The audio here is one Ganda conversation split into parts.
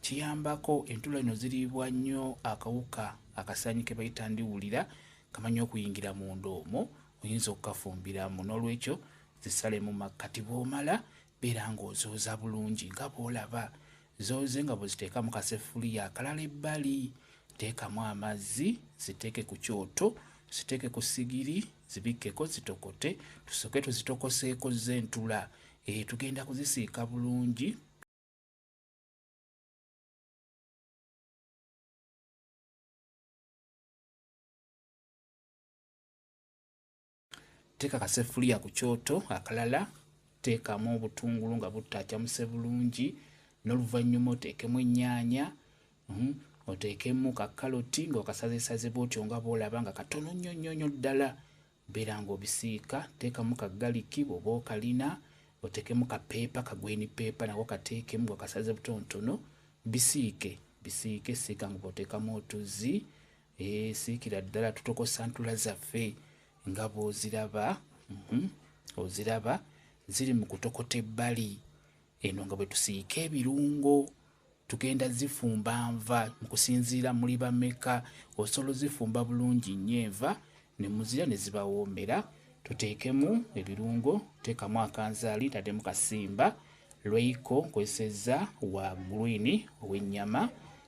kiyambako entula ino ziriibwa nnyo akawuka akasanyi ke bayita ndiwulira kamanyi okuyingira munda omwo oyinza okukafumbiramu n'olwekyo zisale mu makkati bw'omala beera ng'ozooza bulungi nga bw'olaba zooze nga bweziteeka mu kasefuliya akalala ebbali teekamu amazzi ziteeke ku kyoto ziteeke ku sigiri zibikkeko zitokote tusooke tuzitokoseeko z'entula e eh, tugenda kuzisiika bulungi teeka kaseffuliya ku kyoto akalala teekamu obutungulu nga buttaacamuse bulungi n'oluvannyuma oteekemu ennyaanya mhm, oteekemu kakaloti ng'okasazesaze bwotyo nga bwolaba nga katono nnyo nnyo nnyo ddala Beera nga obisiika, teekamu ka ggaliki bw'oba okalina, oteekemu ka peepa, ka gweeni peepa nako kateekemu nga okasaze butonotono. Bisiike bisiike, siika nga bw'oteekamu otuzzi. Ee, eh, siikira ddala tutokosa ntula zaffe nga bw'oziraba. Mhm, oziraba ziri mu kutokota ebbali. Eno nga bwe tusiika ebirungo tugenda zifumba nva mu kusinziira muli bameka osobola ozifumba bulungi nnyo enva ne muzira ne zibawoomera tuteekemu ebirungo teekamu akanzaali taddemu kasimba lweiko nkozesezza wa gulwini ow'ennyama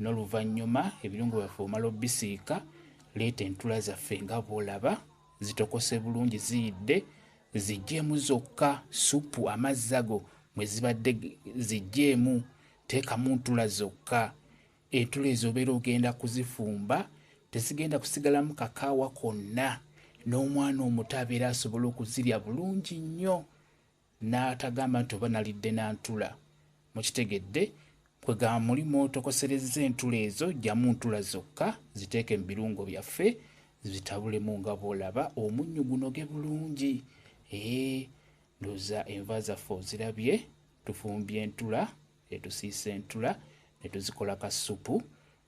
N'oluvannyuma ebirungo byaffe omala obisiika, leeta entula zaffe nga bw'olaba zitokose bulungi ziyidde, zigyemu zokka ssupu amazzi ago mwe zibadde zigyemu, teekamu ntula zokka. Entula ezo obeera ogenda kuzifumba, tezigenda kusigalamu kakaawa konna. N'omwana omuto abeera asobola okuzirya bulungi nnyo. N'atagamba nti oba nalidde na ntula. Mukitegedde? Kwe gamba muli mw'otokoserezza entula ezo, ggyamu ntula zokka, ziteeke mu birungo byaffe, zitabulemu nga bw'olaba omunnyu gunoge bulungi. Eeh, ndowooza enva zaffe ozirabye, tufumbye entula etusiisa entula ne tuzikola ka ssupu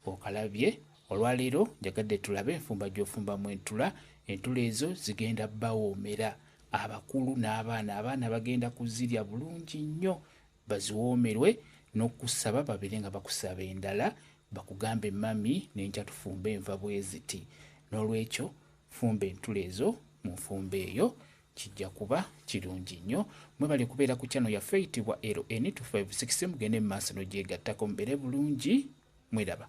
okalabye olwaleero njagadde tulabe enfumba gy'ofumbamu entula entula ezo zigenda bawoomera abakulu n'abaana abaana bagenda kuzirya bulungi nnyo baziwoomerwe n'okusaba babeere nga bakusaba endala bakugambe mami nenkya tufumba enva bweziti n'olwekyo fumba entula ezo mu nfumba eyo Kijja kuba kirungi nnyo. Mwebale kubeera ku channel yaffe eyitibwa LN256 mugende mu maaso n'ogyegattako mubeere bulungi. Mweraba.